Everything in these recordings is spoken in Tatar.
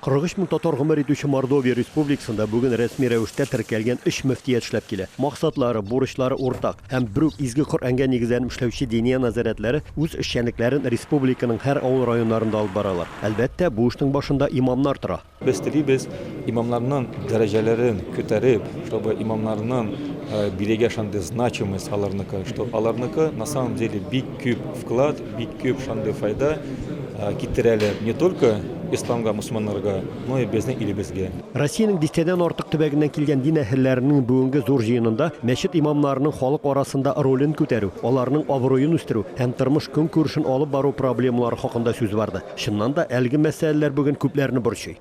43 мең татар гомер итүче Мордовия Республикасында бүген рәсми рәвештә теркәлгән өч мөфтият эшләп килә. Максатлары, бурычлары уртак, һәм бер үк изге Коръәнгә нигезләнеп эшләүче диния нәзарәтләре үз эшчәнлекләрен республиканың һәр авыл районнарында алып баралар. Әлбәттә, бу эшнең башында имамнар тора. Без телибез, имамнарның дәрәҗәләрен күтәреп, чтобы имамнарның бирегә шундый значимость аларныкы, что аларныкы на самом деле бик күп вклад, Бик күп шундый файда китерәләр не только исламга, мусманнарга, но и безнең илебезгә. Россиянең дистәдән артык төбәгеннән килгән дин әһелләренең бүгенге зур җыенында мәчет имамнарының халык арасында ролен күтәрү, аларның абруен үстерү һәм тормыш-көнкүрешен алып бару проблемалары хакында сүз барды. Чыннан да, әлеге мәсьәләләр бүген күпләрне борчый.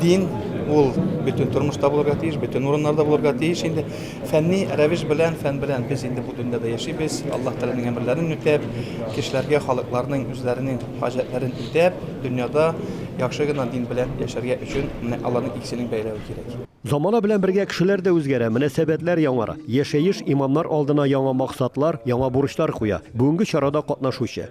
Дин ул бөтен тормышта булырга тиеш, бөтен урыннарда булырга тиеш инде. Фәнни рәвеш белән, фән белән без инде бу дөньяда яшибез. Аллаһ Тәгаләнең әмерләрен үтәп, кешеләргә, халыкларның үзләренең хаҗәтләрен үтәп, дөньяда яхшы гына дин белән яшәргә өчен менә аларның икесенең бәйләве кирәк. Замана белән бергә кешеләр дә үзгәрә, мөнәсәбәтләр яңара. Яшәеш имамнар алдына яңа максатлар, яңа бурычлар куя. Бүгенге чарада катнашучы.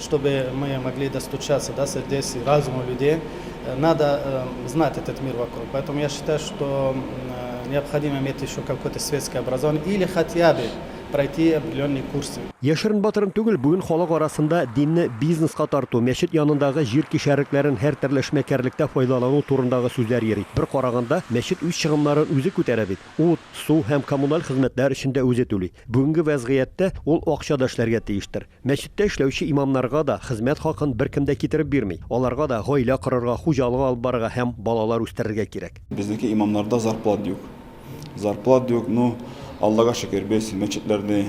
Чтобы мы могли достучаться до сердец и разума людей, надо знать этот мир вокруг. Поэтому я считаю, что необходимо иметь еще какое-то светское образование или хотя бы пройти определенные курсы. Яшерен батырын түгел, бүген халык арасында динне бизнеска тарту, мәчет янындагы җир кишәрлекләрен һәртөрле эшмәкәрлектә файдалану турындагы сүзләр йөри. Бер караганда, мәчет үз чыгымнарын үзе күтәрә бит. Ут, су һәм коммуналь хезмәтләр өчен дә үзе түли. Бүгенге вәзгыятьтә ул акча да эшләргә тиештер. Мәчеттә эшләүче имамнарга да хезмәт хакын беркем дә китереп бирми. Аларга да гаилә корырга, хуҗалык алып барырга һәм балалар үстерергә кирәк. Безнеке имамнарда зарплат юк. Зарплат юк, ну, Аллага шөкер, без мәчетләрне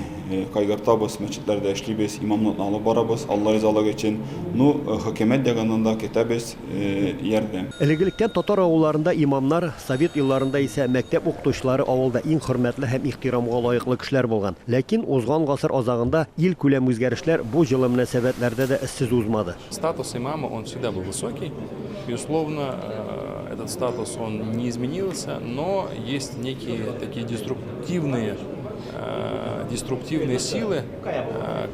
кайгыртабыз, мәчетләрдә эшлибез, имамлыкны алып барабыз, Алла ризалыгы өчен. Ну, хөкүмәт ягыннан да көтәбез. ярдәм. Элек-электән татар авылларында имамнар, совет елларында исә мәктәп укытучылары авылда иң хөрмәтле һәм ихтирамга лаеклы кешеләр булган. Ләкин узган гасыр азагында илкүләм үзгәрешләр бу җылы мөнәсәбәтләрдә дә эзсез узмады. Статус имама он всегда был высокий, безусловно, этот статус он не изменился, но есть некие такие деструктивные, деструктивные силы,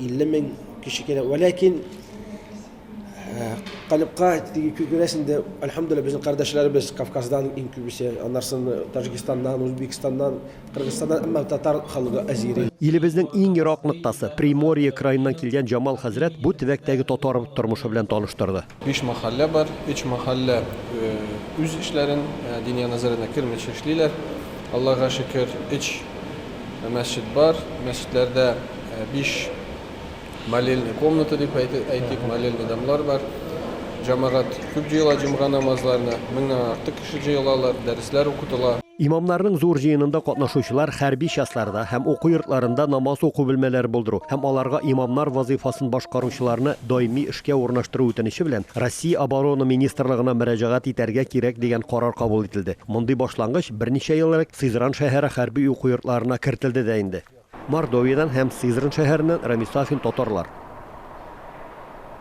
50 мең кеше кирәк. Вәләкин э, калыпка күрәсең дә, альхамдулилла, безнең кардәшләребез Кавказдан иң күбесе, аннарсын Таҗикстаннан, Узбекстаннан, Кыргызстаннан, әмма татар халыгы азири. Илебезнең иң ерак ноктасы, Приморье краеннан килгән Җамал хәзрәт бу төбәктәге татар тормышы белән таныштырды. Биш мәхәллә бар. Өч мәхәллә үз эшләрен Диния назаренә кермичә эшлиләр. Аллага шөкер, өч мәсҗид бар. Мәсҗидләрдә биш молельный комната дип әйтик, молельный домлар бар. Җәмәгать күп җыела җомга намазларына, меңнән артык. Кеше җыелалар, дәресләр укытыла. Имамнарның зур җыенында катнашучылар хәрби частьларда һәм уку йортларында намаз уку бүлмәләре булдыру һәм аларга имамнар вазыйфасын башкаручыларны даими эшкә урнаштыру үтенече белән Россия Оборона министрлыгына мөрәҗәгать итәргә кирәк дигән карар кабул ителде. Мондый башлангыч берничә ел элек Сызран шәһәре хәрби уку йортларына кертелде дә инде. Мордовиядән һәм Сызран шәһәреннән Рамис Сафин татарлар.